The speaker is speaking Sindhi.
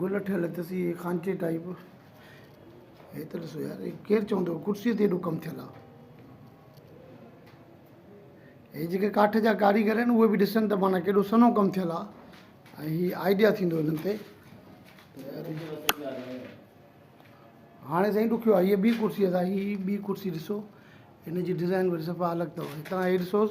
گل ٺھيل اٿس اھي خانچي ٽائيپ. ھي ته ڏسو يار ڪير چوندو ڪرسي تي ايڏو ڪم ٿيل آ. ھي جيڪي ڪاٺ جا ڪاريگر آھن اھي به ڏسن ته معنيٰ ڪيڏو سھنو ڪم ٿيل آ ۽ ھي آئيڊيا ٿيندو ھنن تي ھاڻي سائين ڏکيو آ ھيء ٻي ڪرسي سان ھي ٻي ڪرسي ڏسو ھن جي ڊزائين وري صفا الڳ تھو ھتان ھي ڏسوس